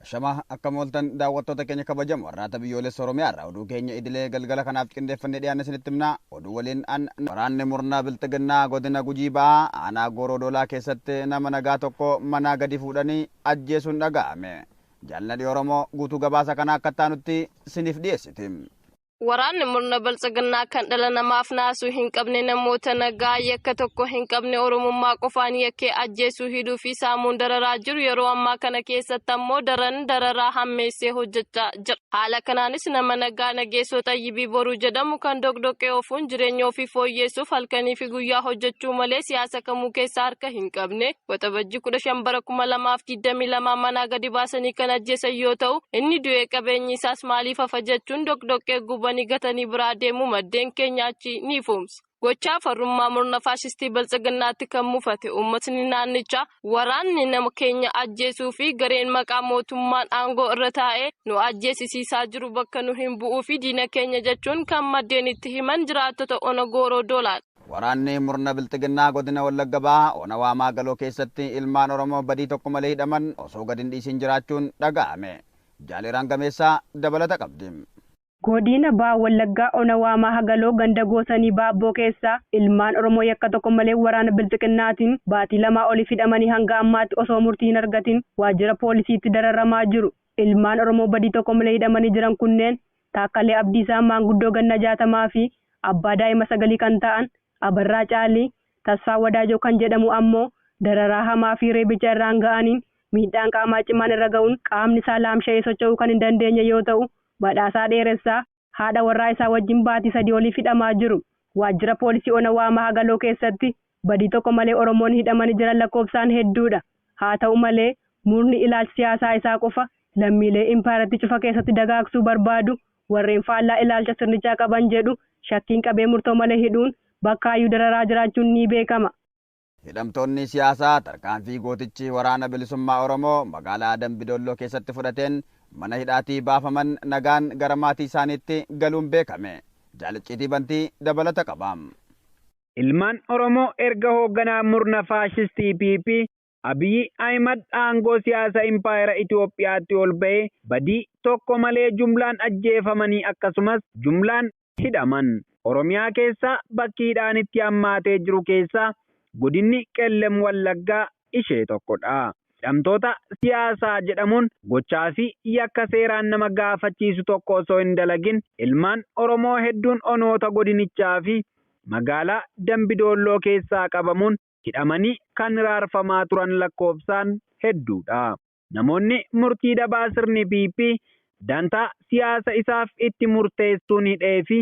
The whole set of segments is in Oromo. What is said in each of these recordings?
Ashama akkam ooltan daawwattoota keenya kabajamoo Arraata Biyyoolessa Oromiyaa irraa oduu keenya idilee galgala kanaaf qindeeffannee dhiyaanne isinitti himna. Oduu waliin an Waraanni murna Bilxiginnaa Godina Gujii Ba'aa Aanaa Gooroo Doolaa keessatti nama nagaa tokko manaa gadi fuudhanii ajjeesuun dhaga'ame. Jaal Nadhii Oromoo guutuu gabaasa kanaa akka itti aanutti isiniif dhiyeessiti. Waraanni murna baltsiginnaa kan dhala namaaf naasuu hin qabne namoota nagaa yakka tokko hin qabne oromummaa qofaan yakkee ajjeesuu hidhuu fi saamuun dararaa jiru yeroo ammaa kana keessatti ammoo daran dararaa hammeessee hojjechaa jira. Haala kanaanis nama nagaa nageessoo xayyibii boruu jedhamu kan doqdoqqee ofuun jireenya ofii fooyyeessuuf halkanii fi guyyaa hojjechuu malee siyaasa kamuu keessa harka hin qabne Waxabajji 15 bara 2022 manaa gadi baasanii kan ajjeesan yoo ta'u inni du'ee qabeenyi isaas maaliif hafa jechuun doqdoqqee gubanii gatanii biraa deemuu maddeen keenya achi ni ifoomsa. Gochaa farrummaa murna faashistii biltsiginnaatti kan mufate uummatni naannichaa waraanni nama keenya ajjeesuu fi gareen maqaa mootummaan aangoo irra taa'ee nu ajjeesisiisaa jiru bakka nu hin bu'uu fi diina keenya jechuun kan maddeen itti himan jiraattota ona gooroo doolaadha. Waraanni murna bilxiginnaa godina Wallagga Bahaa ona Waamaa Galoo keessatti ilmaan Oromoo badii tokko malee hidhaman osoo gad hin dhiisiin jiraachuun dhaga'ame. Jaal Iraan Gameessaa dabalata qabdi. Godina Baha Wallaggaa ona Waamaaha Galoo ganda Goosanii Baabboo keessaa ilmaan Oromoo yakka tokko malee waraana bilxiginnaatiin baatii lamaa oliif hidhamanii hanga ammaatti osoo murtii hin argatiin waajjira poolisiitti dararamaa jiru. Ilmaan Oromoo badii tokko malee hidhamanii jiran kunneen Taakkalee Abdiisaa maanguddoo ganna 60 fi abbaa daa'ima sagalii kan ta'an Abarraa Caalii, Tasfaa Wadaajoo kan jedhamu ammoo dararaa hamaa fi reebicha irraan ga'aniin miidhaan qaamaa cimaan irra ga'uun qaamni isaa laamsha'ee socho'uu kan hin dandeenye yoo ta'u, Badhaasaa Dheeressaa haadha warraa isaa wajjin baatii sadii oliif hidhamaa jiru. Waajjira Poolisii Ona Waamaa Hagaloo keessatti Badii tokko malee Oromoonni hidhamani jiran lakkoofsaan hedduudha. Haata'u malee, murni ilaalcha siyaasaa isaa qofa lammiilee impaayerattii cufa keessatti dagaagsuu barbaadu, warreen faallaa ilaalcha sirnichaa qaban jedhu shakkiin qabee murtoo malee hidhuun bakkaayyuu dararaa jiraachuun ni beekama. Hidhamtoonni siyaasaa tarkaanfii gootichi Waraana Bilisummaa Oromoo magaalaa Dambi Dolloo keessatti fudhateen mana hidhaatii baafaman nagaan gara maatii isaaniitti galuun beekame. Jaal Icciitii Bantii dabalata qaba. ilmaan Oromoo erga hoogganaa murna faashistii PP Abiy Ahimad aangoo siyaasa impaayera Itoophiyaatti ol ba'ee badii tokko malee jumlaan ajjeefamanii akkasumas jumlaan hidhaman. Oromiyaa keessaa bakki hidhaan itti hammaatee jiru keessaa godinni Qellem Wallaggaa ishee tokko dha. Hidhamtoota siyaasaa jedhamuun gochaa fi yakka seeraan nama gaafachiisu tokko osoo hin dalagin ilmaan Oromoo hedduun onoota godinichaa fi magaalaa Dambi Doolloo keessaa qabamuun hidhamanii kan hiraarfamaa turan lakkoofsaan hedduu dha. Namoonni murtii dabaa sirni PP dantaa siyaasa isaaf itti murteessuun hidhee fi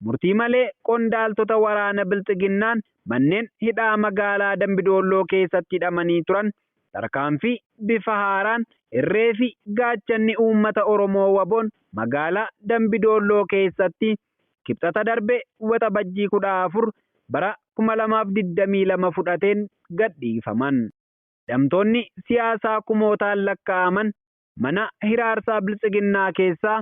murtii malee qondaaltota waraana Bilxiginnaan manneen hidhaa magaalaa Dambi Doolloo keessatti hidhamanii turan tarkaanfii bifa haaraan irree fi gaachanni uummata Oromoo wabon magaalaa Dambi Doolloo keessatti Kibxata darbe Waxabajjii 14 bara 2022 fudhateen gadhiifaman. Hidhamtoonni siyaasaa kumootaan lakka'aman mana hiraarsaa Biltsiginnaa keessaa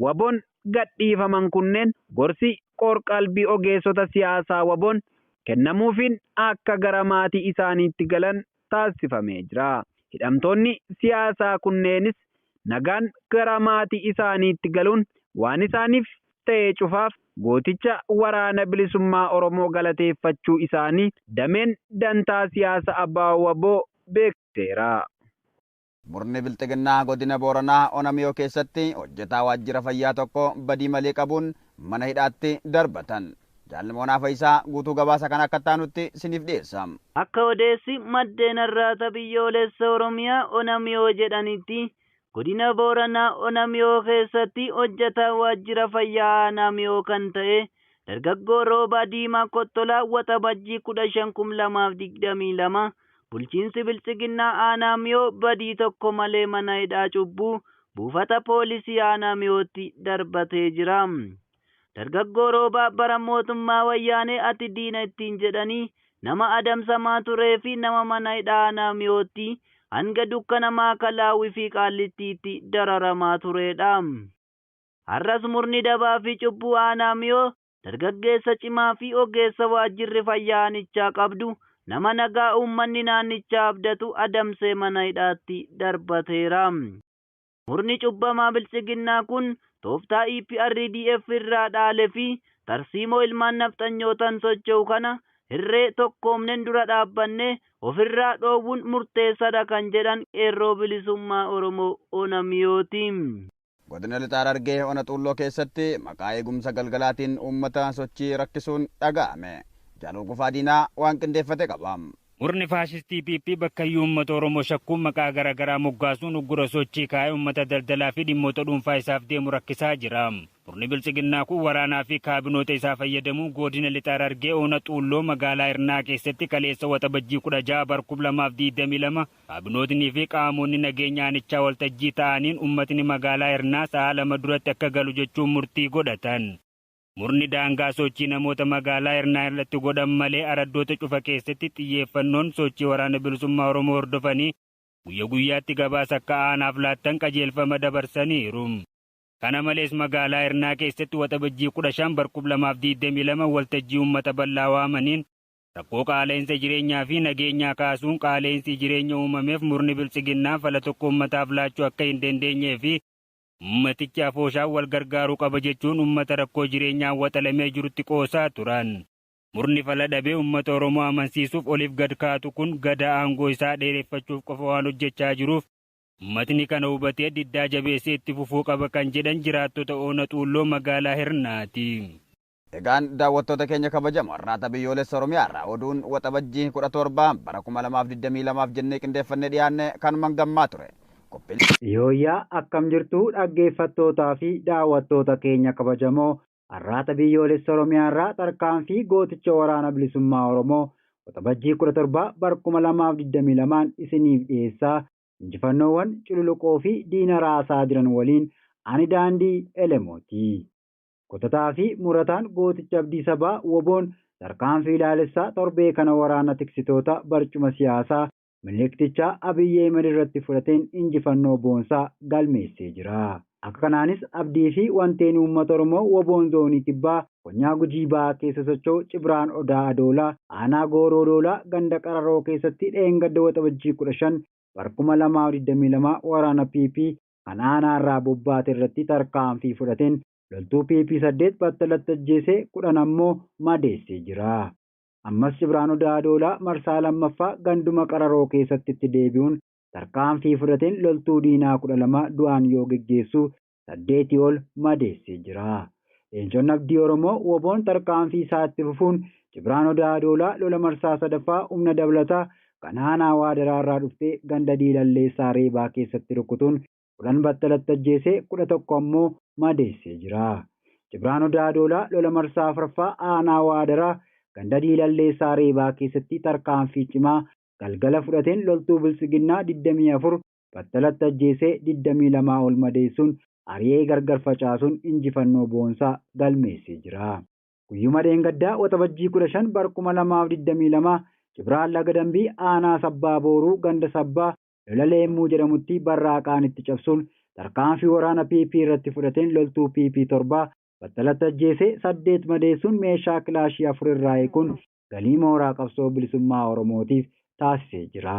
wabon gadhiifaman kunneen gorsi qoor-qalbii ogeessota siyaasaa wabon kennamuufiin akka gara maatii isaaniitti galan taasifamee jira. Hidhamtoonni siyaasaa kunneenis nagaan gara maatii isaaniitti galuun waan isaaniif ta'e cufaaf gooticha Waraana Bilisummaa Oromoo galateeffachuu isaanii dameen dantaa siyaasa abo wbo beeksiseera. Murni Bilxiginnaa Godina Booranaa Ona Miyoo keessatti hojjetaa waajjira fayyaa tokko badii malee qabuun mana hidhaatti darbatan. Jaal Moonaa Fayisaa guutuu gabaasa kana akka itti aanutti siniif dhiyeessa. Akka odeessi maddeen Arraata Biyyoolessa Oromiyaa Ona Miyoo jedhanitti, Godina Booranaa Ona Miyoo keessatti hojjetaa waajjira fayyaa aanaa Miyoo kan ta'e dargaggoo Roobaa Diimaa Kottolaa Waxabajjii 15,2022 Bulchiinsi Biltsiginnaa Aanaa Miyoo badii tokko malee mana hidhaa cubbuu buufata poolisii Aanaa Miyootti darbatee jira. Dargaggoo Roobaa bara mootummaa Wayyaanee ati diina ittiin jedhanii nama adamsamaa turee fi nama mana hidhaa Aanaa Miyootti hanga dukkana Maakalaawwii fi Qaallittiitti dararamaa tureedha. Har'as murni dabaa fi cubbuu Aanaa Miyoo dargaggeessa cimaa fi ogeessa waajjirri fayyaa aanichaa qabdu nama nagaa uummanni naannichaa abdatu adamsee mana hidhaatti darbateera. Murni cubbamaa Biltsiginnaa kun tooftaa EPRDF irraa dhaale fi tarsiimoo ilmaan nafxanyootaan socho'u kana hirree tokkoomnen dura dhaabbanne ofirraa dhoowwuun murteessadha kan jedhan Qeerroo Bilisummaa Oromoo Ona Miyooti. Godina Lixa Harargee Ona Xuulloo keessatti maqaa eegumsa galgalaatiin uummata sochii rakkisuun dhaga'ame. Jaal Hurgufaa Diinaa waan qindeeffate qaba. Murni faashistii PP bakkayyuu uummata Oromoo shakkuun maqaa gara garaa moggaasuun uggura sochii kaa'ee uummata daldalaa fi dhimmoota dhuunfaa isaaf deemu rakkisaa jira. Murni Biltsiginnaa kun waraanaa fi kaabinoota isaa fayyadamuun Goodina Lixa Harargee Ona Xuulloo magaalaa Hirnaa keessatti kaleessa Waxabajjii 16 bar 2022 Kaabinootnii fi qaamonni nageenya aanichaa waltajjii taa'aniin ummatni magaalaa Hirnaa sa'aa lama duratti akka galu jechuun murtii godhatan. Murni daangaa sochii namoota magaalaa Hirnaa irratti godhan malee araddoota cufa keessatti xiyyeeffannoon sochii Waraana Bilisummaa Oromoo hordofanii guyya guyyaatti gabaasa akka aanaaf laattan qajeelfama dabarsaniiru. Kana malees magaalaa Hirnaa keessatti Waxabajjii 15 bar 2022 waltajjii ummata bal'aa waamaniin Rakkoo qaala'insa jireenyaa fi nageenyaa kaasuun qaala'insi jireenya uumameef murni Biltsiginnaa fala tokko ummataaf laachuu akka hin dandeenyee fi ummatichi afooshaan wal gargaaruu qaba jechuun ummata rakkoo jireenyaan waxalamee jirutti qoosaa turan. Murni fala dhabee ummata Oromoo amansiisuuf oliif gad kaatu kun Gadaa aangoo isaa dheereffachuuf qofa waan hojjechaa jiruuf ummatni kana hubatee diddaa jabeessee itti fufuu qaba kan jedhan jiraattota Ona Xuulloo magaalaa Hirnaati. Egaan daawwattoota keenya kabajamoo Arraata Biyyoolessa Oromiyaa irraa oduun Waxabajjii 17 bara 2022f jennee qindeeffannee dhiyaanne kanuman gammaa ture. Qophiilee. Yooyyaa akkam jirtu dhaggeeffattootaa fi daawwattoota keenya kabajamoo Arraata Biyyoolessa Oromiyaa irraa tarkaanfii gooticha Waraana Bilisummaa Oromoo Waxabajjii 17 bar 2022n isiniif dhiyeessaa injifannoowwan cululuqoo fi diina raasaa jiran waliin ani Daandii Elemoo ti. Kutataa fi murataan gootichi abdii sabaa wbo'n tarkaanfii laalessaa torbee kana waraana tiksitoota barcuma siyaasaa Miniliktichaa Abiy Ahimad irratti fudhateen injifannoo boonsaa galmeessee jira. Akka kanaanis abdii fi wanteen uummata Oromoo wbo'n Zoonii Kibbaa konyaa Gujii Bahaa keessa socho'u Cibraan Odaa Adoolaa aanaa Gooroo Doolaa ganda Qararoo keessatti dheengadda Waxabajjii 15 bar 2022 waraana PP kan aanaarraa bobbaate irratti tarkaanfii fudhateen loltuu PP 8 battalatti ajjeesee 10 ammoo madeessee jira. Ammas Cibraanuu Daadoolaa marsaa 2ffaa ganduma Qararoo keessatti itti deebi'uun tarkaanfii fudhateen loltuu diinaa 12 du'aan yoo geggeessuu 8 ol madeessee jira. Leencoon Abdii Oromoo wbo'n tarkaanfii isaa itti fufuun Jibraan Odaa Adoolaa lola marsaa 3ffaa humna dabalataa kan aanaa Waadaraa irraa dhufte ganda Diilallee Saareebaa keessatti rukkutuun 10 battalatti ajjeesee 11 ammoo madeessee jira. Jibraan Odaa Adoolaa lola marsaa 4ffaa aanaa Waadaraa ganda Diilallee Saareebaa keessatti tarkaanfii cimaa galgala fudhateen loltuu Biltsiginnaa 24 battalatti ajjeesee 22 ol madeessuun ari'ee gargar facaasuun injifannoo boonsaa galmeessee jira. Guyyuma dheengaddaa Waxabajjii 15 bar 2022 Cibraan Laga Dambii aanaa Sabbaa Booruu ganda Sabbaa Lola Leemmuu jedhamutti barraaqaan itti cabsuun tarkaanfii waraana PP irratti fudhateen loltuu PP 7 battalatti ajjeesee 8 madeessuun meeshaa kilaashii 4 irraa hiikuun galii mooraa qabsoo bilisummaa Oromootiif taasisee jira.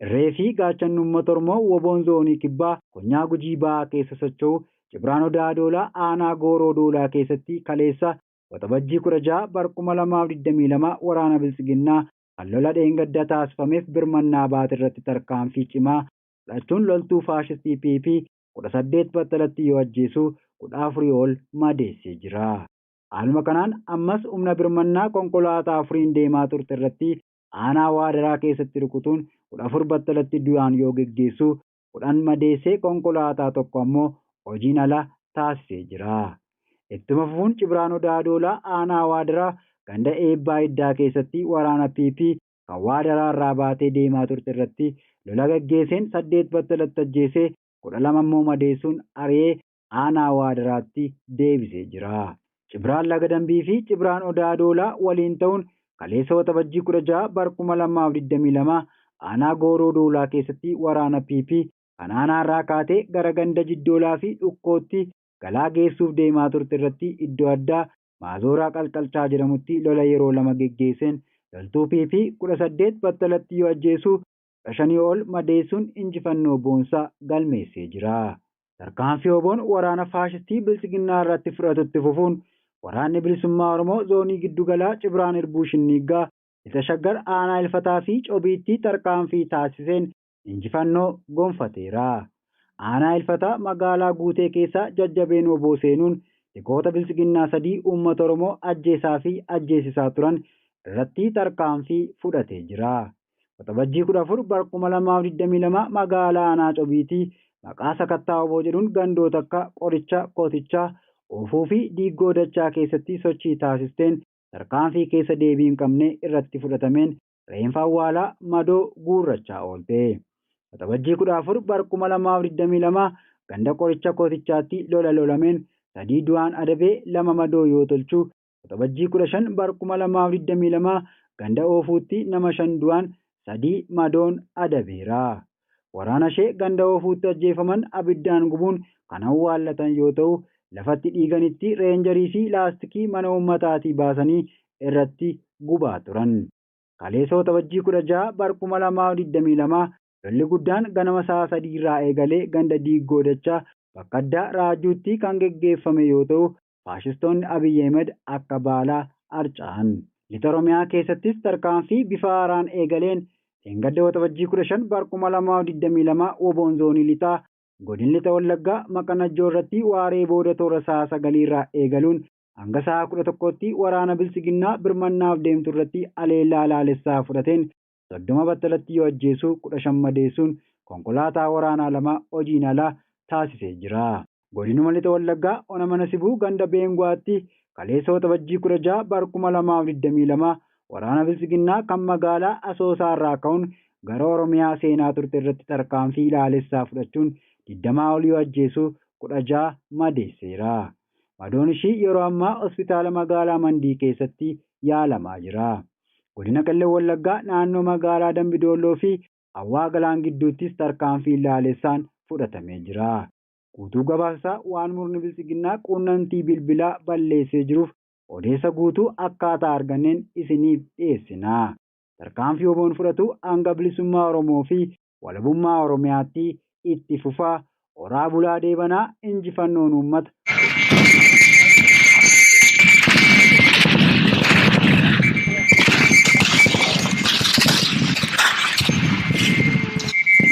Irree fi gaachanni uummata Oromoo wbo-n Zoonii Kibbaa konyaa Gujii Bahaa keessa socho'u Cibraan Odaa Doolaa aanaa Gooroo Doolaa keessatti kaleessa Waxabajjii 16 bar 2022 waraana biltsiginnaa kan lola dheengadda taasifameef birmannaa baate irratti tarkaanfii cimaa fudhachuun loltuu faashistii PP 18 battalatti yoo ajjeesu 14 ol madeessee jira. Haaluma kanaan ammas humna birmannaa konkolaataa afuriin deemaa turte irratti aanaa Waadaraa keessatti rukutuun 14 battalatti du'aan yoo geggeessu 10 madeessee konkolaataa tokko ammoo hojiin ala taasisee jira. Ittuma fufuun Cibraan Odaa Doolaa aanaa Waadaraa ganda Eebbaa Iddaa keessatti waraana PP kan Waadaraa irraa baatee deemaa turte irratti lola gaggeesseen 8 battalatti ajjeesee 12 ammoo madeessuun ari'ee aanaa Waadaraatti deebisee jira. Cibraan Laga Dambii fi Cibraan Odaa Adoolaa waliin ta'uun kaleessa Waxabajjii 16 bar 2022 aanaa Gooroo Doolaa keessatti waraana PP kan aanaarraa kaatee gara ganda Jiddoolaa fi Dhukkootti galaa geessuuf deemaa turte irratti iddoo addaa Maazooraa Qalqalchaa jedhamutti lola yeroo lama geggeesseen loltuu PP 18 battalatti yoo ajjeesu kudha shanii ol madeessuun injifannoo boonsaa galmeessee jira. Tarkaanfii wbon waraana faashistii Bilxiginnaa irratti fudhatu itti fufuun Waraanni Bilisummaa Oromoo Zoonii Giddu Galaa Cibraan Irbuu Shinniiggaa, Lixa Shaggar Aanaa Ilfataa fi Cobiitti tarkaanfii taasiseen injifannoo gonfateera. Aanaa Ilfataa magaalaa Guutee keessaa jajjabeen wbo seenuun tikoota Bilxiginnaa sadii uummata Oromoo ajjeesaa fi ajjeesisaa turan irratti tarkaanfii fudhatee jira. Waxabajjii 14 bar 2022 magaalaa Aanaa Cobiitii maqaa sakattaa wbo jedhuun gandoota akka Qoricha, Kotichaa, Oofuu fi Diiggoo Dachaa keessatti sochii taasisteen tarkaanfii keessa deebii hin qabne irratti fudhatameen reenfa awwaalaa madoo guurrachaa oolte. Waxabajjii 14 bar 2022 ganda Qoricha Kotichaatti lola lolameen 3 du'aan adabee 2 madoo yoo tolchu Waxabajjii 15 bar 2022 ganda Oofuutti nama 5 du'aan 3 madoon adabeera. Waraanashee ganda Oofuutti ajjeefaman abiddaan gubuun kan awwaallatan yoo ta'u, lafatti dhiiganitti reenjarii fi laastikii mana uummataatii baasanii irratti gubaa turan. Kaleessa Waxabajjii 16 bar 2022 lolli guddaan ganama sa'a 3 irraa eegalee ganda Diiggoo Dachaa bakka addaa Raajuutti kan geggeeffame yoo ta'u, faashistoonni Abiy Ahimed akka baalaa harca'an. Lixa Oromiyaa keessattis tarkaanfii bifa haaraan eegaleen dheengadda Waxabajjii 15 bar 2022 wbo'n Zoonii Lixaa Godin Lixa Wallaggaa Maqa Najjoo irratti waaree booda toora sa'a 9 irraa eegaluun hanga sa'a 11tti waraana Biltsiginnaa birmannaaf deemtu irratti haleellaa laalessaa fudhateen 30 battalatti yoo ajjeesu 15 madeessuun konkolaataa waraanaa 2 hojiin ala taasisee jira. Godinuma Lixa Wallaggaa ona Mana Sibuu ganda Beengu'aatti kaleessa Waxabajjii 16 bar 2022 waraana Biltsiginnaa kan magaalaa Asoosaa irraa ka'uun gara Oromiyaa seenaa turte irratti tarkaanfii ilaalessaa fudhachuun 20 ol yoo ajjeesu 16 madeesseera. Madoon ishii yeroo ammaa hospitaala magaalaa Mandii keessatti yaalamaa jira. Godina Qellem Wallaggaa naannoo magaalaa Dambi Doolloo fi Hawwaa Galaan gidduuttis tarkaanfiin laalessaan fudhatamee jira. Guutuu gabaasa isaa waan murni biltsiginnaa quunnamtii bilbilaa balleessee jiruuf odeessa guutuu akkaataa arganneen isiniif dhiyeessina. Tarkaanfii wbon fudhatu hanga bilisummaa Oromoo fi walabummaa Oromiyaatti itti fufaa horaa bulaa deebanaa injifannoon uummata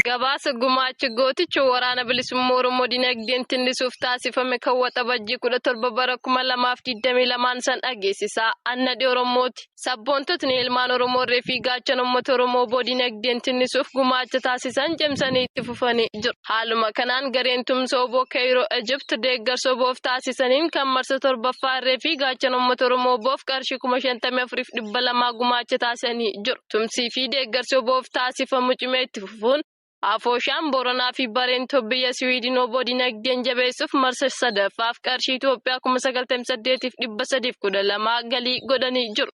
Gabaasa gumaacha gooticha waraana bilisummaa Oromoo dinagdeen tillisuuf taasifame kan waxabajjii 17 bara 2022 san dhageessisaa. Annadhi Oromooti. Sabboontotni ilmaan Oromoo irree fi gaachana uummata Oromoo wbo dinagdeen tinnisuuf gumaacha taasisan cimsanii itti fufanii jiru. Haaluma kanaan gareen tumsa wbo Keeyiroo Egypt deeggarsa wbof taasisaniin kan marsa 7ffaa irree fi gaachana uummata Oromoo wbof qarshii 54,200 gumaacha taasisanii jiru. Tumsii fi deeggarsi wbof taasifamu cimee itti fufuun, Afooshaan Booranaa fi Bareentob biyya Siwiidin wbo dinagdeen jabeessuuf marsa 3ffaaf qarshii Itoophiyaa 98,312 galii godhanii jiru.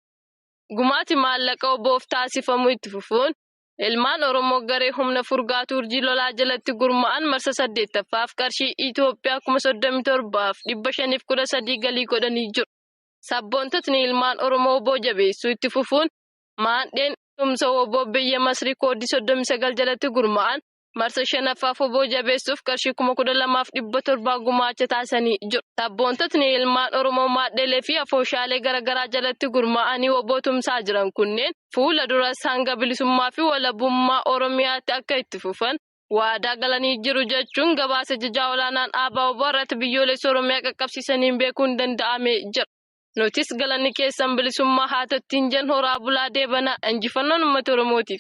Gumaati maallaqa wbof taasifamu itti fufuun ilmaan Oromoo garee humna furgaatu urjii lolaa jalatti gurma'an marsa 8ffaaf qarshii Itoophiyaa 37,513 galii godhanii jiru. Sabboontotni ilmaan Oromoo wbo jabeessuu itti fufuun maandheen tumsa wbo biyya Masrii kooddii 39 jalatti gurmaa'an marsa 5ffaaf wbo jabeessuuf qarshii 12,700 gumaacha taasisanii jiru. Sabboontotni ilmaan Oromoo maadheelee fi afooshaalee garagaraa jalatti gurmaa'anii wbo tumsaa jiran kunneen fuula duras hanga bilisummaa fi walabummaa Oromiyaatti akka itti fufan waadaa galanii jiru jechuun gabaasa Ajajaa Olaanaan ABO-wbo Arraata Biyyoolessa Oromiyaa qaqqabsiisaniin beekuun danda'amee jira. Nutis galanni keessan bilisummaa haa ta'u ittiin jenna horaa bulaa deebanaa injifannoon uummata oromootiif.